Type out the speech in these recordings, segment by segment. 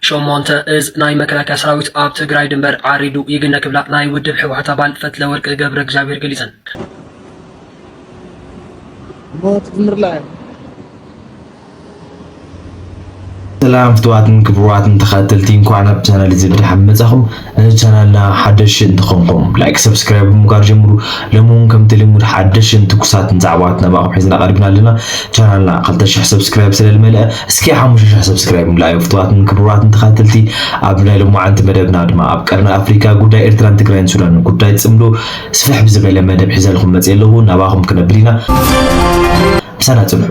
ሸሞንተ እዝ ናይ መከላከያ ሰራዊት ኣብ ትግራይ ድንበር ዓሪዱ ይግነ ክብላ ናይ ውድብ ህወሓት ኣባል ፈትለወርቅ ገብረእግዚኣብሄር ገሊፀን። ሰላም ፍትዋትን ክብርዋትን ተኸተልቲ እንኳዕ ናብ ቻናል እዚ ብደሓን መጻኹም። ነዚ ቻናልና ሓደሽቲ እንተኾንኩም ላይክ ሰብስክራይብ ብምግባር ጀምሩ። ሎሚ እውን ከምቲ ልሙድ ሓደሽትን ትኩሳትን ዛዕባታት ናባኹም ሒዝና ቀሪብና ኣለና። ቻናልና ክልተ ሽሕ ሰብስክራይብ ስለ ዝመልአ እስኪ ሓሙሽተ ሽሕ ሰብስክራይብ ንላዮ ፍትዋትን ክቡራትን ተኸታተልቲ። ኣብ ናይ ሎማዓንቲ መደብና ድማ ኣብ ቀርኒ ኣፍሪካ ጉዳይ ኤርትራን ትግራይን ሱዳንን ጉዳይ ጽምዶ ስፍሕ ብዝበለ መደብ ሒዘልኩም መጽየ ኣለኹ። ናባኹም ክነብል ኢና። ምሳና ጽንሑ።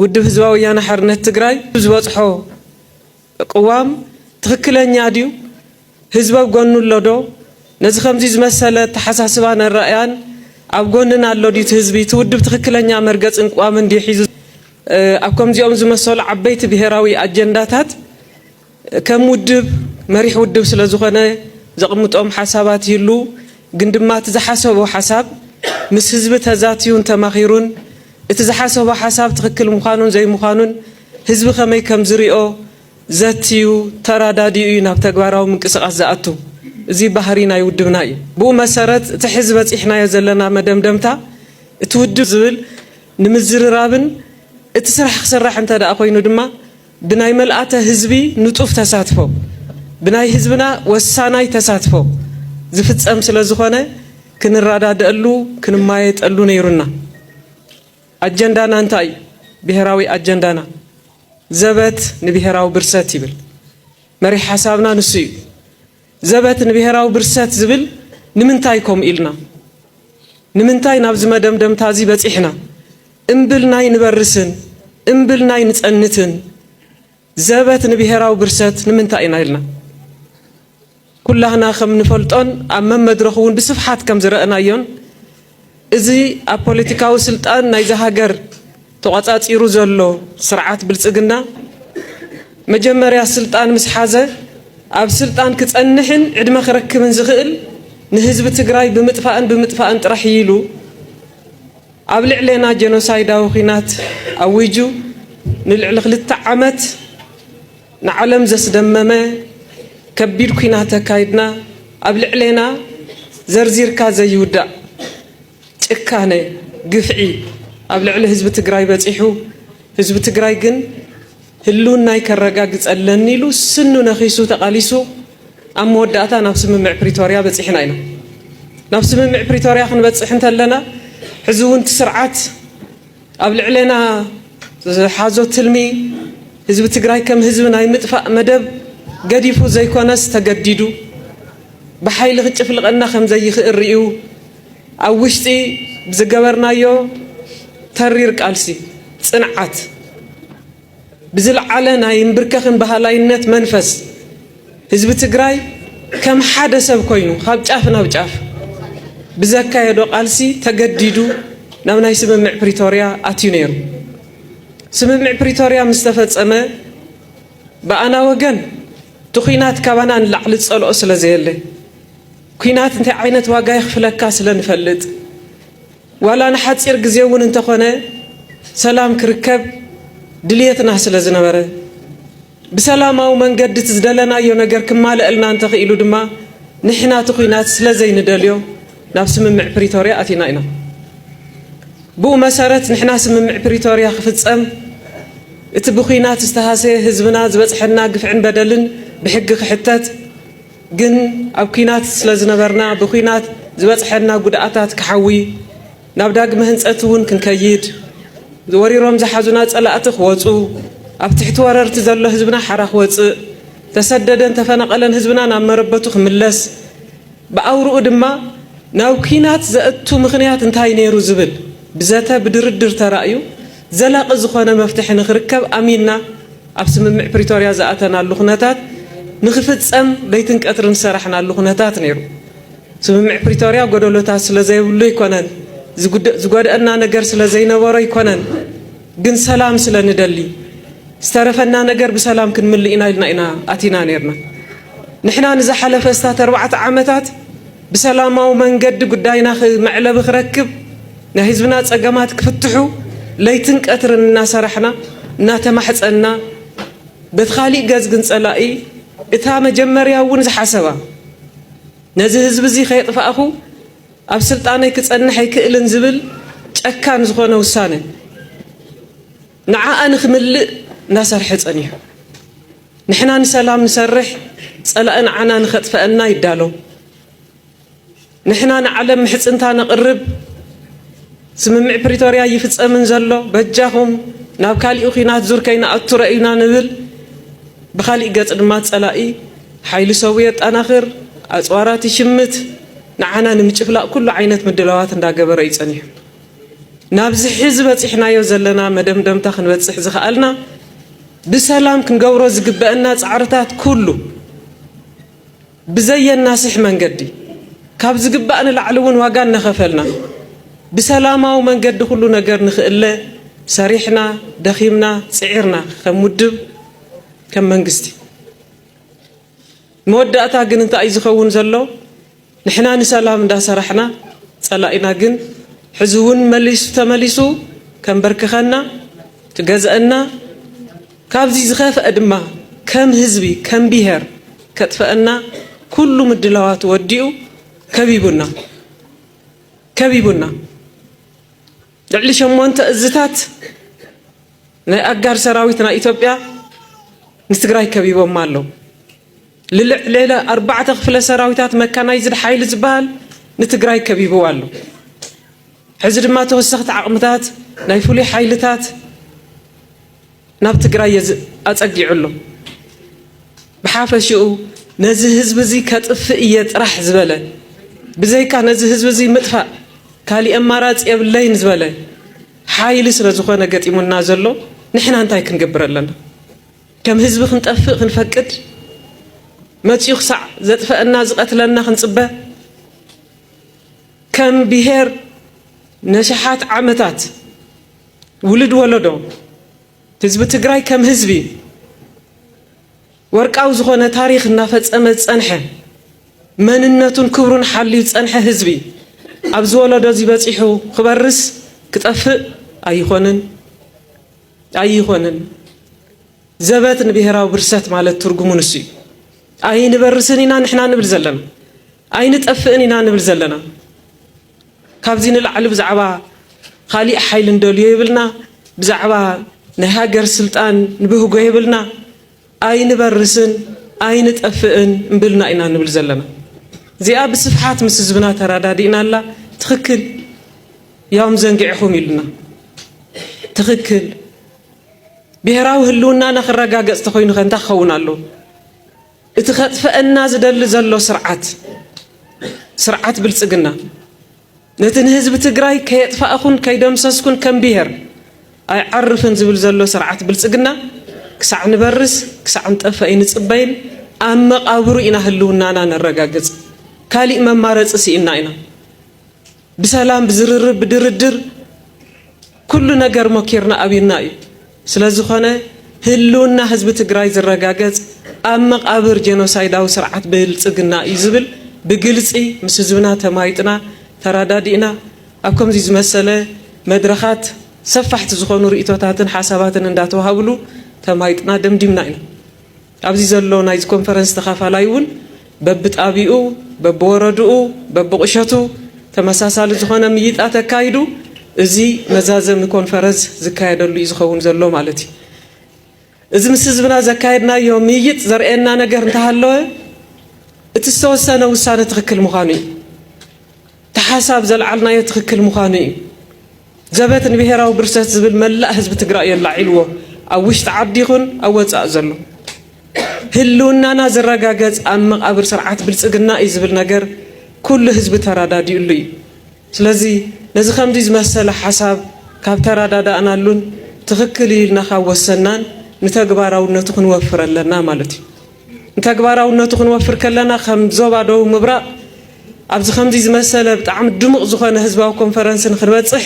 ውድብ ህዝባዊ ወያነ ሓርነት ትግራይ ዝበፅሖ ቅዋም ትኽክለኛ ድዩ? ህዝቢ ኣብ ጎኑ ኣሎ ዶ? ነዚ ከምዚ ዝመሰለ ኣተሓሳስባን ኣረኣእያን ኣብ ጎንና ኣሎ ድዩ እቲ ህዝቢ? እቲ ውድብ ትኽክለኛ መርገፅን ቅዋምን ድዩ ሒዙ ኣብ ከምዚኦም ዝመሰሉ ዓበይቲ ብሄራዊ ኣጀንዳታት ከም ውድብ መሪሕ ውድብ ስለ ዝኾነ ዘቕምጦም ሓሳባት ይህሉ ግን ድማ እቲ ዝሓሰቦ ሓሳብ ምስ ህዝቢ ተዛትዩን ተማኺሩን እቲ ዝሓሰቦ ሓሳብ ትኽክል ምዃኑን ዘይምዃኑን ህዝቢ ከመይ ከም ዝሪኦ ዘትዩ ተራዳዲኡ እዩ ናብ ተግባራዊ ምንቅስቓስ ዝኣቱ እዚ ባህሪ ናይ ውድብና እዩ ብኡ መሰረት እቲ ሕዚ በፂሕናዮ ዘለና መደምደምታ እቲ ውድብ ዝብል ንምዝርራብን እቲ ስራሕ ክስራሕ እንተድኣ ኮይኑ ድማ ብናይ መልኣተ ህዝቢ ንጡፍ ተሳትፎ፣ ብናይ ህዝብና ወሳናይ ተሳትፎ ዝፍጸም ስለ ዝኾነ ክንራዳደኣሉ ክንማየጠሉ ነይሩና። ኣጀንዳና እንታይ እዩ? ብሄራዊ ኣጀንዳና ዘበት ንብሄራዊ ብርሰት ይብል። መሪሕ ሓሳብና ንሱ እዩ። ዘበት ንብሄራዊ ብርሰት ዝብል ንምንታይ ከምኡ ኢልና? ንምንታይ ናብዚ መደምደምታ እዚ በጺሕና? እምብልናይ ንበርስን እምብልናይ ንጸንትን ዘበት ንብሄራዊ ብርሰት ንምንታይ ኢና ኢልና? ኩላህና ከም ንፈልጦን ኣብ መመድረኹ እውን ብስፍሓት ከም ዝረእናዮን እዚ ኣብ ፖለቲካዊ ስልጣን ናይዛ ሃገር ተቖጻጺሩ ዘሎ ስርዓት ብልጽግና፣ መጀመርያ ስልጣን ምስ ሓዘ ኣብ ስልጣን ክጸንሕን ዕድመ ክረክብን ዝኽእል ንህዝቢ ትግራይ ብምጥፋእን ብምጥፋእን ጥራሕ እዩ ኢሉ ኣብ ልዕሌና ጀኖሳይዳዊ ኲናት ኣዊጁ ንልዕሊ ክልተ ዓመት ንዓለም ዘስደመመ ከቢድ ኩናት ኣካይድና ኣብ ልዕሌና ዘርዚርካ ዘይውዳእ ጭካነ ግፍዒ ኣብ ልዕሊ ህዝቢ ትግራይ በፂሑ ህዝቢ ትግራይ ግን ህልውናይ ከረጋግፅ ኣለኒ ኢሉ ስኑ ነኺሱ ተቓሊሱ ኣብ መወዳእታ ናብ ስምምዕ ፕሪቶርያ በፂሕና ኢና ናብ ስምምዕ ፕሪቶርያ ክንበፅሕ እንተለና ሕዚ እውን እቲ ስርዓት ኣብ ልዕሌና ዝሓዞ ትልሚ ህዝቢ ትግራይ ከም ህዝቢ ናይ ምጥፋእ መደብ ገዲፉ ዘይኮነስ ተገዲዱ ብሓይሊ ክጭፍልቐና ከም ዘይኽእል ርእዩ ኣብ ውሽጢ ብዝገበርናዮ ተሪር ቃልሲ፣ ፅንዓት፣ ብዝልዓለ ናይ ምብርከኽን በሃላይነት መንፈስ ህዝቢ ትግራይ ከም ሓደ ሰብ ኮይኑ ካብ ጫፍ ናብ ጫፍ ብዘካየዶ ቃልሲ ተገዲዱ ናብ ናይ ስምምዕ ፕሪቶርያ ኣትዩ ነይሩ። ስምምዕ ፕሪቶርያ ምስ ተፈጸመ ብኣና ወገን እቲ ኩናት ካባና ንላዕሊ ዝጸልኦ ስለ ዘየለ ኩናት እንታይ ዓይነት ዋጋ የኽፍለካ ስለ ንፈልጥ ዋላ ንሓጺር ግዜ እውን እንተኾነ ሰላም ክርከብ ድልየትና ስለዝነበረ፣ ብሰላማዊ መንገዲ እቲ ዝደለናዮ ነገር ክማለእልና እንተኽኢሉ ድማ ንሕና እቲ ኲናት ስለዘይንደልዮ ናብ ስምምዕ ፕሪቶርያ ኣቲና ኢና። ብኡ መሰረት ንሕና ስምምዕ ፕሪቶርያ ክፍጸም፣ እቲ ብኲናት ዝተሃሰየ ህዝብና ዝበጽሐና ግፍዕን በደልን ብሕጊ ክሕተት፣ ግን ኣብ ኩናት ስለ ዝነበርና ብኩናት ዝበጽሐና ጉድኣታት ክሓዊ ናብ ዳግመ ህንጸት እውን ክንከይድ ወሪሮም ዝሓዙና ጸላእቲ ክወጹ ኣብ ትሕቲ ወረርቲ ዘሎ ህዝብና ሓራ ክወጽእ ተሰደደን ተፈናቐለን ህዝብና ናብ መረበቱ ክምለስ ብኣውርኡ ድማ ናብ ኩናት ዘእቱ ምክንያት እንታይ ነይሩ ዝብል ብዘተ ብድርድር ተራእዩ ዘላቂ ዝኾነ መፍትሒ ንክርከብ ኣሚንና ኣብ ስምምዕ ፕሪቶርያ ዝኣተናሉ ኩነታት ንክፍፀም ለይትን ቀትርን ዝሰራሕናሉ ኩነታት ነይሩ። ስምምዕ ፕሪቶርያ ጎደሎታት ስለዘይብሉ ኣይኮነን፣ ዝጎድኣና ነገር ስለዘይነበሮ ኣይኮነን፣ ግን ሰላም ስለንደሊ ዝተረፈና ነገር ብሰላም ክንምልእ ኢና ኢልና ኢና ኣቲና ነይርና። ንሕና ንዝሓለፈ እስታት ኣርባዕተ ዓመታት ብሰላማዊ መንገዲ ጉዳይና መዕለቢ ክረክብ፣ ናይ ህዝብና ፀገማት ክፍትሑ ለይትን ቀትርን እናሰራሕና፣ እናተማሕፀንና፣ በቲ ካሊእ ገፅ ግን ፀላኢ እታ መጀመርያ እውን ዝሓሰባ ነዚ ህዝቢ እዚ ከየጥፋእኹ ኣብ ስልጣነይ ክፀንሕ ኣይክእልን ዝብል ጨካን ዝኾነ ውሳነ ንዓኣ ንክምልእ እናሰርሐ ፀኒሑ። ንሕና ንሰላም ንሰርሕ ፀላኢ ንዓና ንከጥፈኣና ይዳሎ። ንሕና ንዓለም ምሕፅንታ ነቕርብ ስምምዕ ፕሪቶርያ ይፍፀምን ዘሎ በጃኹም ናብ ካሊእ ኹናት ዙር ከይንኣቱ ረእዩና ንብል። ብኻሊእ ገፅ ድማ ፀላኢ ሓይሊ ሰቡ የጣናኽር፣ ኣፅዋራት ይሽምት፣ ንዓና ንምጭፍላቕ ኩሉ ዓይነት ምድላዋት እንዳገበረ እዩ ፀኒሑ። ናብዚ ሕዚ በጺሕናዮ ዘለና መደምደምታ ክንበጽሕ ዝኸኣልና ብሰላም ክንገብሮ ዝግበአና ጻዕርታት ኩሉ ብዘየናስሕ መንገዲ ካብ ዝግባእ ንላዕሊ እውን ዋጋ እናኸፈልና ብሰላማዊ መንገዲ ኩሉ ነገር ንክእለ ሰሪሕና ደኺምና ጽዒርና ከም ውድብ ከም መንግስቲ መወዳእታ ግን እንታይ እዩ ዝኸውን ዘሎ? ንሕና ንሰላም እንዳሰራሕና ጸላኢና ግን ሕዚ እውን መሊሱ ተመሊሱ ከንበርክኸና ክገዝኣና ካብዚ ዝኸፍአ ድማ ከም ህዝቢ ከም ብሄር ከጥፈኣና ኩሉ ምድላዋቱ ወዲኡ ከቢቡና ከቢቡና ልዕሊ ሸሞንተ እዝታት ናይ ኣጋር ሰራዊት ናይ ኢትዮጵያ ንትግራይ ከቢቦማ ኣለዉ። ልልዕሊ ኣርባዕተ ክፍለ ሰራዊታት መካናይዝድ ሓይሊ ዝበሃል ንትግራይ ከቢብዋ ኣሎ። ሕዚ ድማ ተወሰኽቲ ዓቕምታት ናይ ፍሉይ ሓይልታት ናብ ትግራይ እየ ኣፀጊዑ ኣሎ። ብሓፈሽኡ ነዚ ህዝቢ እዚ ከጥፍእ እየ ጥራሕ ዝበለ ብዘይካ ነዚ ህዝቢ እዚ ምጥፋእ ካሊእ ኣማራፂ የብለይን ዝበለ ሓይሊ ስለዝኾነ ገጢሙና ዘሎ ንሕና እንታይ ክንገብር ኣለና? ከም ህዝቢ ክንጠፍእ ክንፈቅድ መፂኡ ክሳዕ ዘጥፈአና ዝቐትለና ክንፅበ ከም ብሄር ነሽሓት ዓመታት ውልድ ወለዶ ህዝቢ ትግራይ ከም ህዝቢ ወርቃዊ ዝኾነ ታሪኽ እናፈፀመ ዝፀንሐ መንነቱን ክብሩን ሓልዩ ዝፀንሐ ህዝቢ ኣብዚ ወለዶ እዚ በፂሑ ክበርስ ክጠፍእ ኣይኾንን ኣይኾንን። ዘበት ንብሔራዊ ብርሰት ማለት ትርጉሙ ንሱ እዩ። ኣይንበርስን ኢና ንሕና ንብል ዘለና ኣይንጠፍእን ኢና ንብል ዘለና ካብዚ ንላዕሊ ብዛዕባ ካሊእ ሓይሊ ንደልዮ የብልና ብዛዕባ ናይ ሃገር ስልጣን ንብህጎ የብልና ኣይንበርስን ኣይንጠፍእን እምብልና ኢና ንብል ዘለና እዚኣ ብስፍሓት ምስ ህዝብና ተረዳዲእናላ ትኽክል ያውም ዘንጊዕኹም ኢሉና ትኽክል ብሄራዊ ህልውናና ክረጋገፅ ተኮይኑ ከ እንታይ ክኸውን ኣለዎ እቲ ከጥፈእና ዝደሊ ዘሎ ስርዓት ስርዓት ብልፅግና ነቲ ንህዝቢ ትግራይ ከየጥፋእኹን ከይደምሰስኩን ከም ብሄር ኣይዓርፍን ዝብል ዘሎ ስርዓት ብልፅግና ክሳዕ ንበርስ ክሳዕ ንጠፈእ ይንፅበይን ኣብ መቓብሩ ኢና ህልውናና ነረጋግፅ ካሊእ መማረፂ ስኢንና ኢና። ብሰላም ብዝርርብ ብድርድር ኩሉ ነገር ሞኪርና ኣብዩና እዩ። ስለዝኾነ ህልውና ህዝቢ ትግራይ ዝረጋገፅ ኣብ መቓብር ጀኖሳይዳዊ ስርዓት ብልፅግና እዩ ዝብል ብግልፂ ምስ ህዝብና ተማይጥና ተራዳዲእና ኣብ ከምዚ ዝመሰለ መድረኻት ሰፋሕቲ ዝኾኑ ርእቶታትን ሓሳባትን እንዳተዋሃብሉ ተማይጥና ደምዲምና ኢና። ኣብዚ ዘሎ ናይዚ ኮንፈረንስ ተኻፋላይ እውን በብጣብይኡ፣ በብወረድኡ፣ በብቑሸቱ ተመሳሳሊ ዝኾነ ምይይጣት ኣካይዱ እዚ መዛዘሚ ኮንፈረንስ ዝካየደሉ እዩ ዝኸውን ዘሎ ማለት እዩ። እዚ ምስ ህዝብና ዘካየድናዮ ምይይጥ ዘርእየና ነገር እንተሃለወ እቲ ዝተወሰነ ውሳነ ትኽክል ምዃኑ እዩ። እቲ ሓሳብ ዘልዓልናዮ ትኽክል ምዃኑ እዩ። ዘበት ንብሄራዊ ብርሰት ዝብል መላእ ህዝቢ ትግራይ እዩ ኣላዒልዎ፣ ኣብ ውሽጢ ዓዲ ይኹን ኣብ ወፃእ ዘሎ። ህልውናና ዝረጋገፅ ኣብ መቓብር ስርዓት ብልፅግና እዩ ዝብል ነገር ኩሉ ህዝቢ ተረዳዲኡሉ እዩ። ስለዚ ነዚ ከምዚ ዝመሰለ ሓሳብ ካብ ተረዳዳእናሉን ትኽክል እዩ ኢልና ካብ ወሰንናን ንተግባራውነቱ ክንወፍር ኣለና ማለት እዩ። ንተግባራውነቱ ክንወፍር ከለና ከም ዞባ ደቡብ ምብራቕ ኣብዚ ከምዚ ዝመሰለ ብጣዕሚ ድሙቕ ዝኾነ ህዝባዊ ኮንፈረንስ ንክንበፅሕ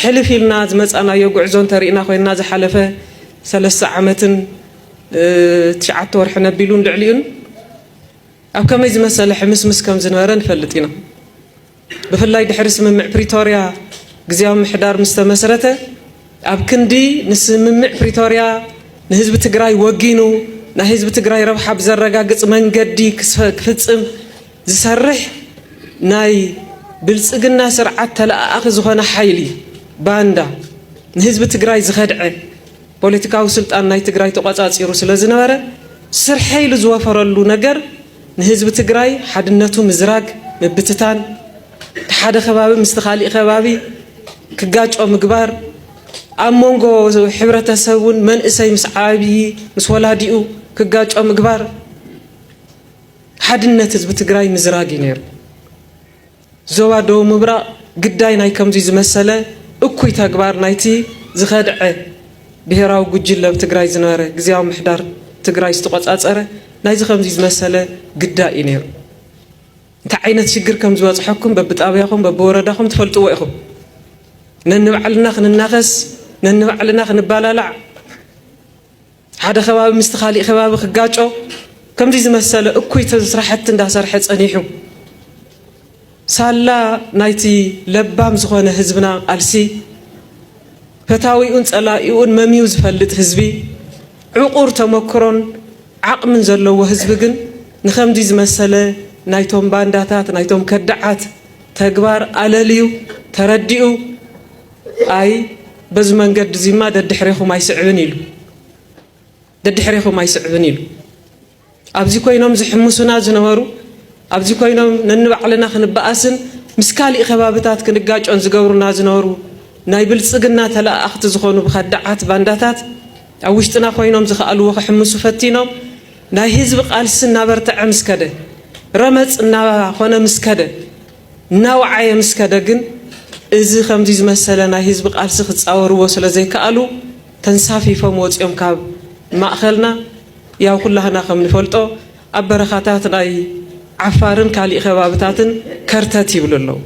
ሕልፍ ኢልና ዝመፃናዮ ጉዕዞ እንተሪእና ኮይንና ዝሓለፈ ሰለስተ ዓመትን ትሽዓተ ወርሕን ኣቢሉን ልዕሊኡን ኣብ ከመይ ዝመሰለ ሕምስምስ ከም ዝነበረ ንፈልጥ ኢና። ብፍላይ ድሕሪ ስምምዕ ፕሪቶርያ ግዝያዊ ምምሕዳር ምስ ተመስረተ ኣብ ክንዲ ንስምምዕ ፕሪቶርያ ንህዝቢ ትግራይ ወጊኑ ናይ ህዝቢ ትግራይ ረብሓ ብዘረጋግፅ መንገዲ ክፍፅም ዝሰርሕ ናይ ብልፅግና ስርዓት ተለኣኣኺ ዝኾነ ሓይሊ ባንዳ ንህዝቢ ትግራይ ዝኸድዐ ፖለቲካዊ ስልጣን ናይ ትግራይ ተቖፃፂሩ ስለ ዝነበረ ስርሐይ ኢሉ ዝወፈረሉ ነገር ንህዝቢ ትግራይ ሓድነቱ ምዝራግ፣ ምብትታን፣ እቲ ሓደ ከባቢ ምስቲ ካሊእ ከባቢ ክጋጮ ምግባር፣ ኣብ መንጎ ሕብረተሰብ እውን መንእሰይ ምስ ዓብዪ ምስ ወላዲኡ ክጋጮ ምግባር ሓድነት ህዝቢ ትግራይ ምዝራግ እዩ ነይሩ። ዞባ ደቡብ ምብራቕ ግዳይ ናይ ከምዚ ዝመሰለ እኩይ ተግባር ናይቲ ዝኸድዐ ብሄራዊ ጉጅለ ኣብ ትግራይ ዝነበረ ግዝያዊ ምሕዳር ትግራይ ዝተቖፃፀረ ናይዚ ከምዚ ዝመሰለ ግዳይ እዩ ነይሩ። እንታይ ዓይነት ሽግር ከም ዝበፅሐኩም በብጣብያኹም በብወረዳኹም ትፈልጥዎ ኢኹም። ነንባዕልና ክንናኸስ ነንባዕልና ክንባላላዕ ሓደ ከባቢ ምስቲ ካሊእ ከባቢ ክጋጮ ከምዚ ዝመሰለ እኩይ ስራሕቲ እንዳሰርሐ ፀኒሑ ሳላ ናይቲ ለባም ዝኾነ ህዝብና ቃልሲ ፈታዊኡን ፀላኢኡን መምዩ ዝፈልጥ ህዝቢ ዕቑር ተመክሮን ዓቕምን ዘለዎ ህዝቢ ግን ንከምዚ ዝመሰለ ናይቶም ባንዳታት ናይቶም ከዳዓት ተግባር ኣለልዩ ተረዲኡ ኣይ በዚ መንገዲ እዚማ ደድሕሬኹም ኣይስዕብን ኢሉ ደድሕሬኹም ኣይስዕብን ኢሉ ኣብዚ ኮይኖም ዝሕምሱና ዝነበሩ ኣብዚ ኮይኖም ነንባዕልና ክንበኣስን ምስ ካሊእ ከባብታት ክንጋጮን ዝገብሩና ዝነበሩ ናይ ብልፅግና ተለኣኣኽቲ ዝኾኑ ብኸዳዓት ባንዳታት ኣብ ውሽጥና ኮይኖም ዝኸኣልዎ ክሕምሱ ፈቲኖም ናይ ህዝቢ ቃልሲ እናበርተዐ ምስ ከደ ረመፅ እናኾነ ምስ ከደ እናወዓየ ምስ ከደ ግን እዚ ከምዚ ዝመሰለ ናይ ህዝቢ ቃልሲ ክጻወርዎ ስለ ዘይከኣሉ ተንሳፊፎም ወጺኦም ካብ ማእከልና ያው ኩላህና ከም ንፈልጦ ኣብ በረኻታት ናይ ዓፋርን ካሊእ ከባብታትን ከርተት ይብሉ ኣለዉ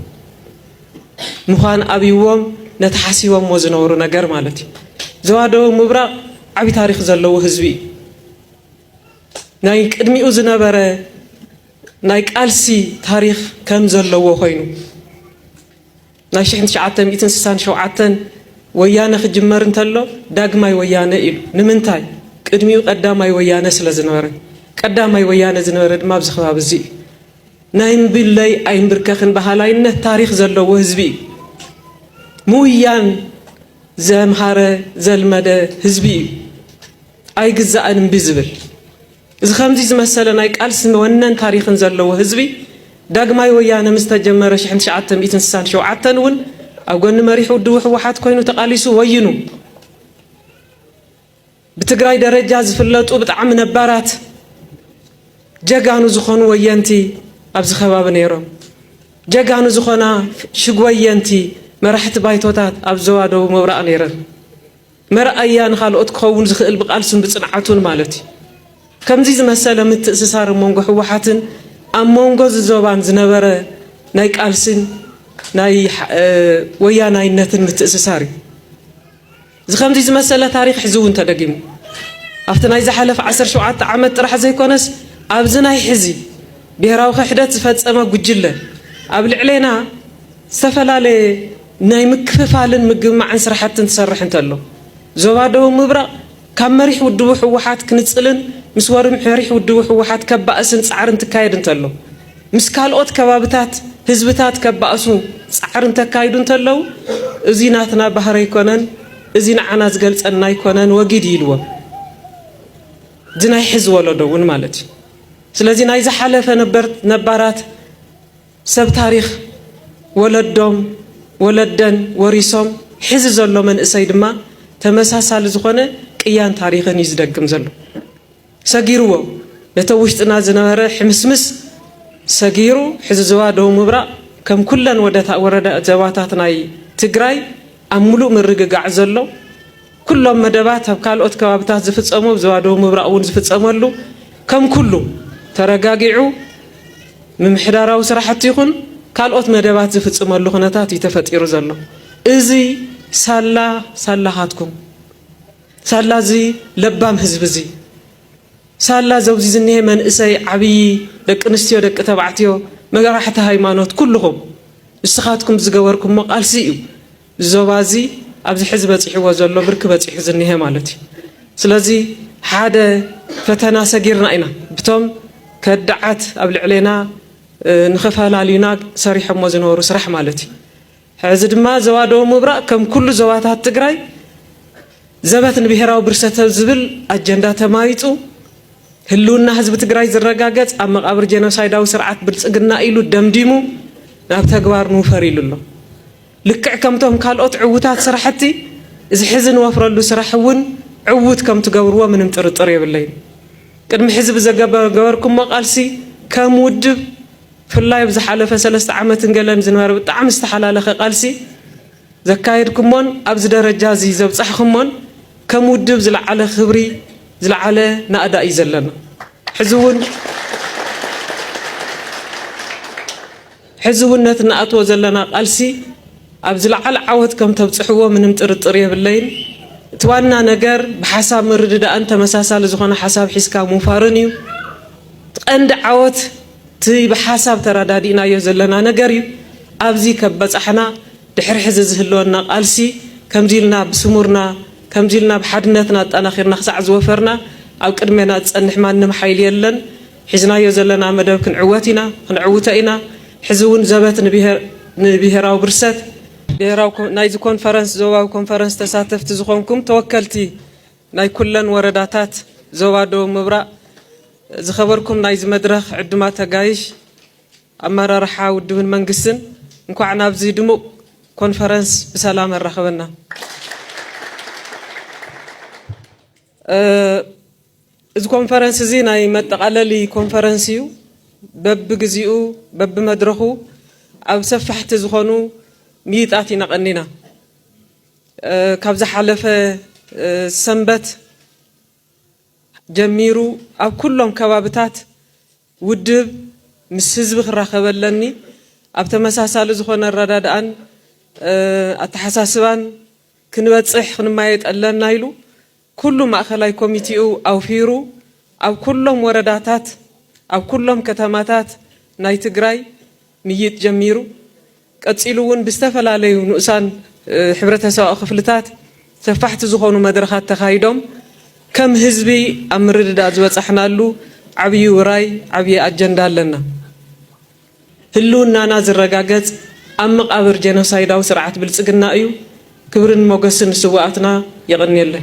ምዃን ኣብይዎም ነቲ ሓሲቦሞ ዝነበሩ ነገር ማለት እዩ ዞባ ደቡብ ምብራቕ ዓቢ ታሪኽ ዘለዎ ህዝቢ እዩ ናይ ቅድሚኡ ዝነበረ ናይ ቃልሲ ታሪኽ ከም ዘለዎ ኮይኑ ናይ ሽሕን ትሽዓተ ሚእትን ስሳን ሸውዓተን ወያነ ክጅመር እንተሎ ዳግማይ ወያነ ኢሉ ንምንታይ ቅድሚኡ ቀዳማይ ወያነ ስለ ዝነበረ ቀዳማይ ወያነ ዝነበረ ድማ ኣብዚ ከባቢ እዚ እዩ ናይ ምብለይ ኣይምብርከኽን በሃላይነት ታሪኽ ዘለዎ ህዝቢ እዩ ምውያን ዘምሃረ ዘልመደ ህዝቢ እዩ ኣይግዛእን እምቢ ዝብል እዚ ከምዚ ዝመሰለ ናይ ቃልሲ ወነን ታሪኽን ዘለዎ ህዝቢ ዳግማይ ወያነ ምስ ተጀመረ ሽሕን ትሽዓተ ሚእትን ስሳን ሸውዓተን እውን ኣብ ጎኒ መሪሕ ውድቡ ህወሓት ኮይኑ ተቓሊሱ ወይኑ ብትግራይ ደረጃ ዝፍለጡ ብጣዕሚ ነባራት ጀጋኑ ዝኾኑ ወየንቲ ኣብዚ ከባቢ ነይሮም ጀጋኑ ዝኾና ሽግ ወየንቲ መራሕቲ ባይቶታት ኣብ ዞባ ደቡብ ምብራቕ ነይረን መርኣያ ንኻልኦት ክኸውን ዝኽእል ብቓልሱን ብፅንዓቱን ማለት እዩ። ከምዚ ዝመሰለ ምትእስሳር ኣብ መንጎ ህወሓትን ኣብ መንጎ እዚ ዞባን ዝነበረ ናይ ቃልሲን ናይ ወያናይነትን ምትእስሳር እዩ። እዚ ከምዚ ዝመሰለ ታሪክ ሕዚ እውን ተደጊሙ ኣብቲ ናይ ዝሓለፈ 17 ዓመት ጥራሕ ዘይኮነስ ኣብዚ ናይ ሕዚ ብሔራዊ ክሕደት ዝፈጸመ ጉጅለ ኣብ ልዕሌና ዝተፈላለየ ናይ ምክፍፋልን ምግምማዕን ስራሕቲ እንትሰርሕ እንተሎ፣ ዞባ ደቡብ ምብራቕ ካብ መሪሕ ውድቡ ህወሓት ክንፅልን ምስ ወርም መሪሕ ውድቡ ህወሓት ከባእስን ፃዕሪ እንትካየድ እንተሎ፣ ምስ ካልኦት ከባብታት ህዝብታት ከባእሱ ፃዕሪ እንተካይዱ እንተለው እዙይ ናትና ባህሪ ኣይኮነን፣ እዙይ ንዓና ዝገልፀና ኣይኮነን ወጊድ እዩ ኢልዎም። እዚ ናይ ሕዚ ወለዶ እውን ማለት እዩ። ስለዚህ ናይ ዝሓለፈ ነበር ነባራት ሰብ ታሪኽ ወለዶም ወለደን ወሪሶም ሕዚ ዘሎ መንእሰይ ድማ ተመሳሳሊ ዝኾነ ቅያን ታሪኽን እዩ ዝደግም ዘሎ ሰጊርዎ ነተ ውሽጥና ዝነበረ ሕምስምስ ሰጊሩ ሕዚ ዞባ ደቡብ ምብራቕ ከም ኩለን ወረዳ ዘባታት ናይ ትግራይ ኣብ ምሉእ ምርግጋዕ ዘሎ ኩሎም መደባት ኣብ ካልኦት ከባብታት ዝፍፀሙ ኣብ ዞባ ደቡብ ምብራቕ እውን ዝፍፀመሉ ከም ኩሉ ተረጋጊዑ ምምሕዳራዊ ስራሕቲ ይኹን ካልኦት መደባት ዝፍፅመሉ ኩነታት እዩ ተፈጢሩ ዘሎ። እዚ ሳላ ሳላኻትኩም ሳላ እዚ ለባም ህዝቢ እዚ ሳላ ዘብዚ ዝኒሀ መንእሰይ ዓብዪ ደቂ ኣንስትዮ ደቂ ተባዕትዮ መራሕቲ ሃይማኖት ኩልኹም ንስኻትኩም ዝገበርኩሞ ቃልሲ እዩ ዞባ እዚ ኣብዚ ሕዚ በጺሕዎ ዘሎ ብርኪ በጺሑ ዝኒሀ ማለት እዩ። ስለዚ ሓደ ፈተና ሰጊርና ኢና ብቶም ከዳዓት ኣብ ልዕሌና ንኸፈላልዩና ሰሪሖሞ ዝነበሩ ስራሕ ማለት እዩ። ሕዚ ድማ ዞባ ደቡብ ምብራቕ ከም ኩሉ ዞባታት ትግራይ ዘበት ንብሄራዊ ብርሰት ኣብ ዝብል ኣጀንዳ ተማይፁ ህልውና ህዝቢ ትግራይ ዝረጋገፅ ኣብ መቓብር ጄኖሳይዳዊ ስርዓት ብልፅግና ኢሉ ደምዲሙ ናብ ተግባር ንውፈር ኢሉ ኣሎ። ልክዕ ከምቶም ካልኦት ዕዉታት ስራሕቲ፣ እዚ ሕዚ ንወፍረሉ ስራሕ እውን ዕዉት ከም ትገብርዎ ምንም ጥርጥር የብለይን። ቅድሚ ሕዚ ብዘገበርኩሞ ቃልሲ ከም ውድብ ብፍላይ ኣብ ዝሓለፈ ሰለስተ ዓመትን ገለን ዝነበረ ብጣዕሚ ዝተሓላለኸ ቃልሲ ዘካየድኩሞን ኣብዚ ደረጃ እዚ ዘብፃሕኹሞን ከም ውድብ ዝለዓለ ክብሪ ዝለዓለ ናእዳ እዩ ዘለና። ሕዚ እውን ሕዚ እውን ነቲ ንኣትዎ ዘለና ቃልሲ ኣብ ዝለዓለ ዓወት ከም ተብፅሕዎ ምንም ጥርጥር የብለይን። እቲ ዋና ነገር ብሓሳብ ምርድዳእን ተመሳሳሊ ዝኾነ ሓሳብ ሒዝካ ምውፋርን እዩ። እቲ ቀንዲ ዓወት እቲ ብሓሳብ ተረዳዲእናዮ ዘለና ነገር እዩ። ኣብዚ ከብ በፃሕና ድሕሪ ሕዚ ዝህልወና ቃልሲ ከምዚ ኢልና ብስሙርና ከምዚ ኢልና ብሓድነትና ኣጠናኺርና ክሳዕ ዝወፈርና ኣብ ቅድሜና ዝፀንሕ ማንም ሓይሊ የለን። ሒዝናዮ ዘለና መደብ ክንዕወት ኢና ክነዕውቶ ኢና ሕዚ ውን ዘበት ንብሄራዊ ብርሰት። ብሄራዊ ናይዚ ኮንፈረንስ ዞባዊ ኮንፈረንስ ተሳተፍቲ ዝኾንኩም ተወከልቲ ናይ ኩለን ወረዳታት ዞባ ደቡብ ምብራቕ ዝኸበርኩም ናይዚ መድረኽ ዕዱማት ኣጋይሽ ኣመራርሓ ውድብን መንግስትን እንኳዕ ናብዚ ድሙቕ ኮንፈረንስ ብሰላም ኣራኸበና። እዚ ኮንፈረንስ እዚ ናይ መጠቓለሊ ኮንፈረንስ እዩ። በብግዚኡ በብመድረኹ ኣብ ሰፋሕቲ ዝኾኑ ምይጣት ኢና ቀኒና ካብ ዝሓለፈ ሰንበት ጀሚሩ ኣብ ኩሎም ከባብታት ውድብ ምስ ህዝቢ ክራኸበ ኣለኒ ኣብ ተመሳሳሊ ዝኾነ ኣረዳድኣን ኣተሓሳስባን ክንበጽሕ ክንማየጥ ኣለና ኢሉ ኩሉ ማእኸላይ ኮሚቲኡ ኣውፊሩ ኣብ ኩሎም ወረዳታት ኣብ ኩሎም ከተማታት ናይ ትግራይ ምይይጥ ጀሚሩ። ቀጺሉ እውን ብዝተፈላለዩ ንኡሳን ሕብረተሰባዊ ክፍልታት ሰፋሕቲ ዝኾኑ መድረኻት ተኻይዶም ከም ህዝቢ ኣብ ምርድዳእ ዝበጻሕናሉ ዓብዪ ውራይ ዓብዪ ኣጀንዳ ኣለና። ህልውናና ዝረጋገፅ ኣብ መቓብር ጀኖሳይዳዊ ስርዓት ብልፅግና እዩ። ክብርን ሞገስን ንስዋኣትና። የቐንየለይ።